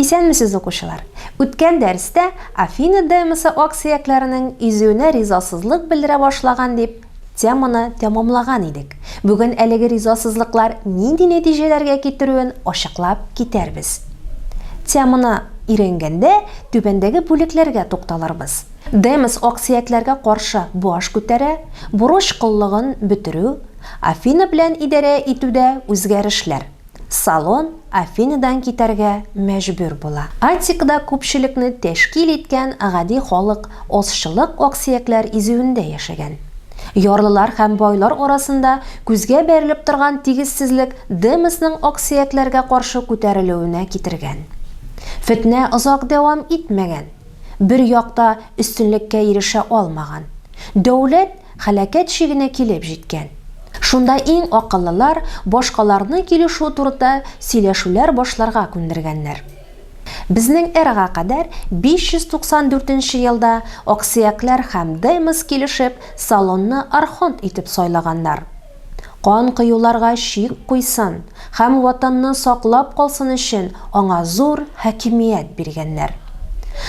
Исәнмесез укучылар! Үткән дәрестә Афина демосы аксөякләренең изүенә ризасызлык белдерә башлаган дип теманы тәмамлаган идек. Бүген әлеге ризасызлыклар нинди нәтиҗәләргә китерүен ачыклап китәрбез. Теманы өйрәнгәндә түбәндәге бүлекләргә тукталырбыз. Демос аксөякләргә каршы баш күтәрә, бурыч коллыгын бетерү, Афина белән идарә итүдә үзгәрешләр. Салон Афиныдан китәргә мәҗбүр була. Аттикада күпчелекне тәшкил иткән гади халык азчылык аксөякләр изүендә яшәгән. Ярлылар һәм байлар арасында күзгә бәрелеп торган тигезсезлек Демосның аксөякләргә каршы күтәрелүенә китергән. Фетнә озак дәвам итмәгән. Бер як та өстенлеккә ирешә алмаган. Дәүләт Һәлакәт чигенә килеп җиткән. Шунда иң акыллылар башкаларны килешү турыда сөйләшүләр башларга күндергәннәр. Безнең эрага кадәр 594 нче елда аксөякләр һәм Демос килешеп, Салонны архонт итеп сайлаганнар. Кан коюларга чик куйсын һәм Ватанны саклап калсын өчен аңа зур хакимият биргәннәр.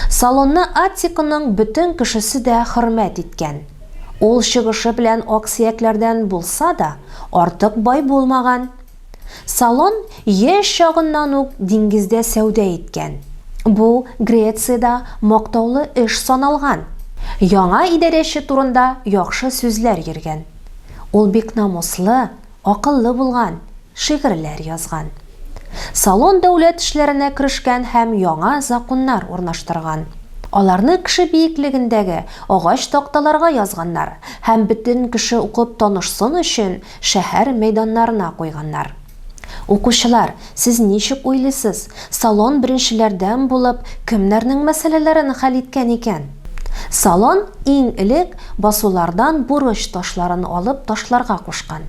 Салонны Аттиконың бөтен кешесе дә хөрмәт иткән. Ул чыгышы белән аксөякләрдән булса да, артык бай булмаган. Салон яшь чагыннан ук диңгездә сәүдә иткән. Бу Грециядә мактаулы эш саналган. Яңа идарәче турында яхшы сүзләр йөргән. Ул бик намуслы, акыллы булган, шигырьләр язган. Салон дәүләт эшләренә керешкән һәм яңа законнар урнаштырган. Аларны кеше биеклегендәге агач такталарга язганнар һәм бөтен кеше укып танышсын өчен Шәһәр мәйданнарына куйганнар. Укучылар, сез ничек уйлыйсыз, Салон беренчеләрдән булып кемнәрнең мәсьәләләрен хәл иткән икән? Салон иң элек басулардан бурыч ташларын алып ташларга кушкан.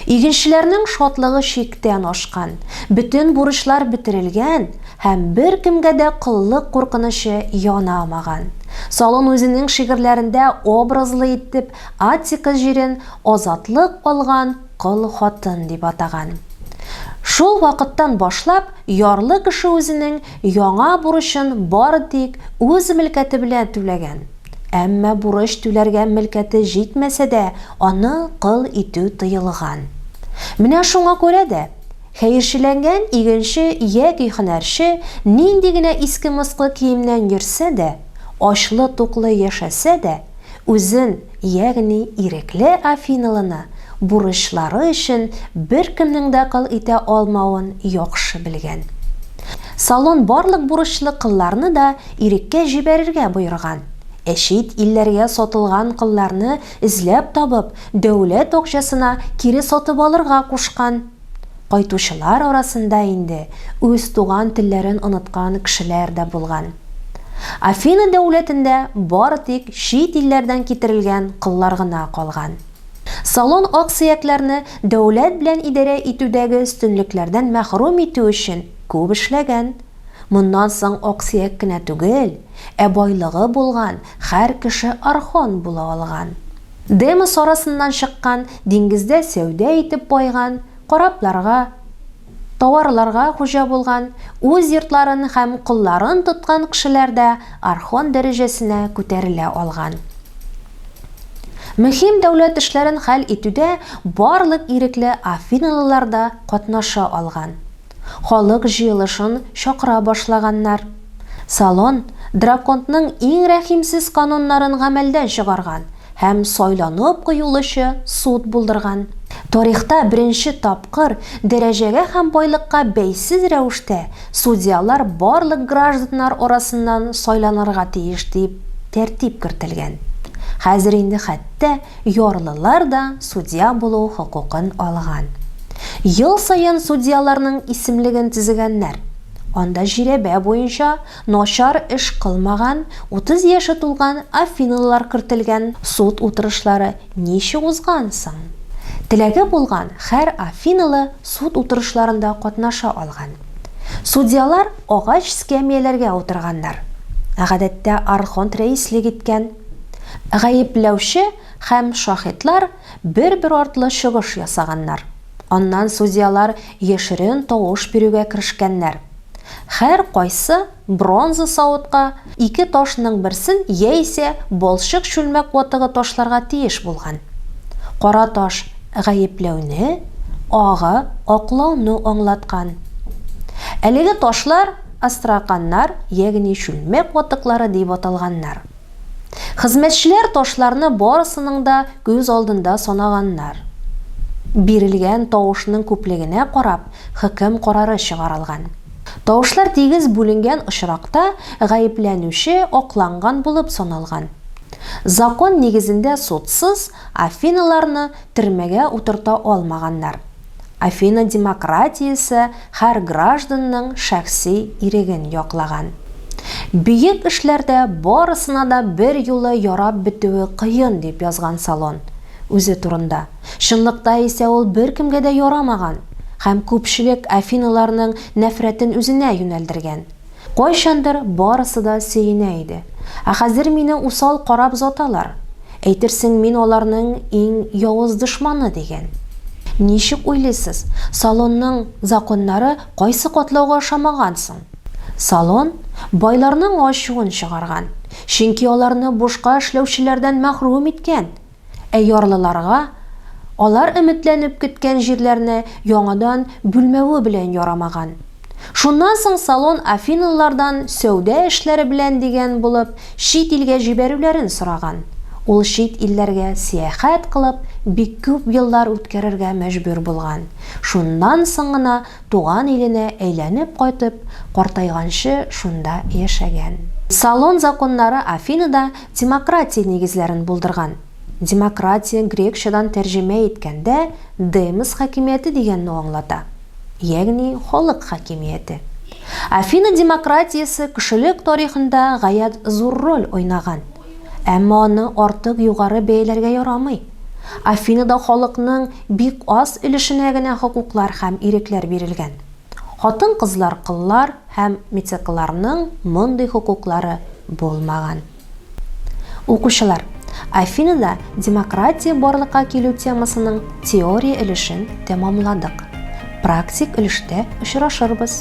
Игенчеләрнең шатлыгы чиктән ашкан, бөтен бурычлар бетерелгән һәм беркемгә дә коллык куркынычы янамаган. Салон үзенең шигырьләрендә образлы итеп Аттика җирен азатлык алган кол хатын дип атаган. Шул вакыттан башлап ярлы кеше үзенең яңа бурычын бары тик үз мөлкәте белән түләгән. Әмма бурыч түләргә мөлкәте җитмәсә дә, аны кол итү тыелган. Менә шуңа күрә дә, хәерчеләнгән игенче яки һөнәрче нинди генә иске-москы киемнән йөрсә дә, ачлы-туклы яшәсә дә, Үзен, ягъни ирекле афиналыны, бурычлары өчен беркемнең дә кол итә алмавын яхшы белгән. Салон барлык бурычлы колларны да иреккә җибәрергә боерган, ә чит илләргә сатылган колларны эзләп табып, дәүләт акчасына кире сатып алырга кушкан. Кайтучылар арасында инде үз туган телләрен оныткан кешеләр дә булган. Афина дәүләтендә бары тик чит илләрдән китерелгән коллар гына калган. Салон аксөякләрне дәүләт белән идарә итүдәге өстенлекләрдән мәхрүм итү өчен күп эшләгән. Моннан соң аксөяк кенә түгел, ә байлыгы булган һәр кеше архон була алган. Демос арасыннан чыккан, диңгездә сәүдә итеп байган, корабларга, тауарларга хуҗа булган, үз йортларын һәм колларын тоткан кшеләр дә архон дәрәҗәсенә күтәрелә алган. Мөһим дәүләт эшләрен хәл итүдә барлык ирекле афиналылар да катнаша алган. Халык җыелышын чакыра башлаганнар. Салон Драконтның иң рәхимсез кануннарын гамәлдән чыгарган һәм сайланып куелучы суд булдырган. Тарихта беренче тапкыр дәрәҗәгә һәм байлыкка бәйсез рәвештә судьялар барлык гражданнар арасыннан сайланырга тиеш дип тәртип кертелгән. Хәзер инде хәтта Ярлылар да судья булу хокукын алган. Ел саен судьяларның исемлеген төзегәннәр. Анда жирәбә буенча начар эш кылмаган, утыз яше тулган афинылылар кертелгән. Суд утырышлары ничек узган соң? Теләге булган хәр афинылы суд утырышларында катнаша алган. Судьялар агач скәмияләргә утырганнар. Гадәттә архонт рәислек иткән. Гаепләүче һәм шаһитлар бер-бер артлы чыгыш ясаганнар. Аннан судьялар яшерен тавыш бирүгә керешкәннәр. Һәркайсы бронза савытка ике ташның берсен яисә балчык чүлмәк ватыгы ташларга тиеш булган. Кара таш гаепләүне, агы, аклауны аңлаткан. Әлеге ташлар астраканнар, ягъни чүлмәк ватыклары дип аталганнар. Хезмәтчеләр ташларны барысының да күз алдында санаганнар. Бирелгән тавышның күплегенә карап, хөкем карары чыгарылган. Тавышлар тигез бүленгән очракта, гаепләнүче акланган булып саналган. Закон нигезендә судсыз Афиналарны төрмәгә утырта алмаганнар. Афина демократиясе һәр гражданның шәхси иреген яклаган. Бөек эшләрдә барысына да берьюлы ярап бетүе кыен, дип язган Салон үзе турында. Чынлыкта исә ул беркемгә дә ярамаган һәм күпчелек афиналарның нәфрәтен үзенә юнәлдергән. Кайчандыр барысы да сөенә иде. Ә хәзер мине усал карап заталар. Әйтерсең, мин аларның иң явыз дошманы, дигән. Ничек уйлыйсыз, салонның законнары кайсы катлауга ошамаган соң? Салон байларның ачуын чыгарган, чөнки аларны бушка эшләүчеләрдән мәхрүм иткән. Ә ярлыларга алар өметләнеп көткән җирләрне яңадан бүлмәве белән ярамаган. Шуннан соң Салон афинлылардан сәүдә эшләре белән дигән булып чит илгә җибәрүләрен сораган. Ул чит илләргә сәяхәт кылып бик күп еллар үткәрергә мәҗбүр булган. Шуннан соң гына туган иленә әйләнеп кайтып, картайганчы шунда яшәгән. Салон законнары Афинада Демократия нигезләрен булдырган. Демократия грекчадан тәрҗемә иткәндә демос хакимияте дигәнне аңлата, ягъни халык хакимияте. Афина демократиясе кешелек тарихында гаять зур роль уйнаган. Әмма аны артык югары бәяләргә ярамый. Афинада халыкның бик аз өлешенә генә хокуклар һәм ирекләр бирелгән. Хатын-кызлар кыллар, Һәм мицекларның мондый хокуклары булмаган. Укучылар, Афинада демократия барлыкка килү темасының теория өлешен тәмамладык. Практик өлештә очрашырбыз.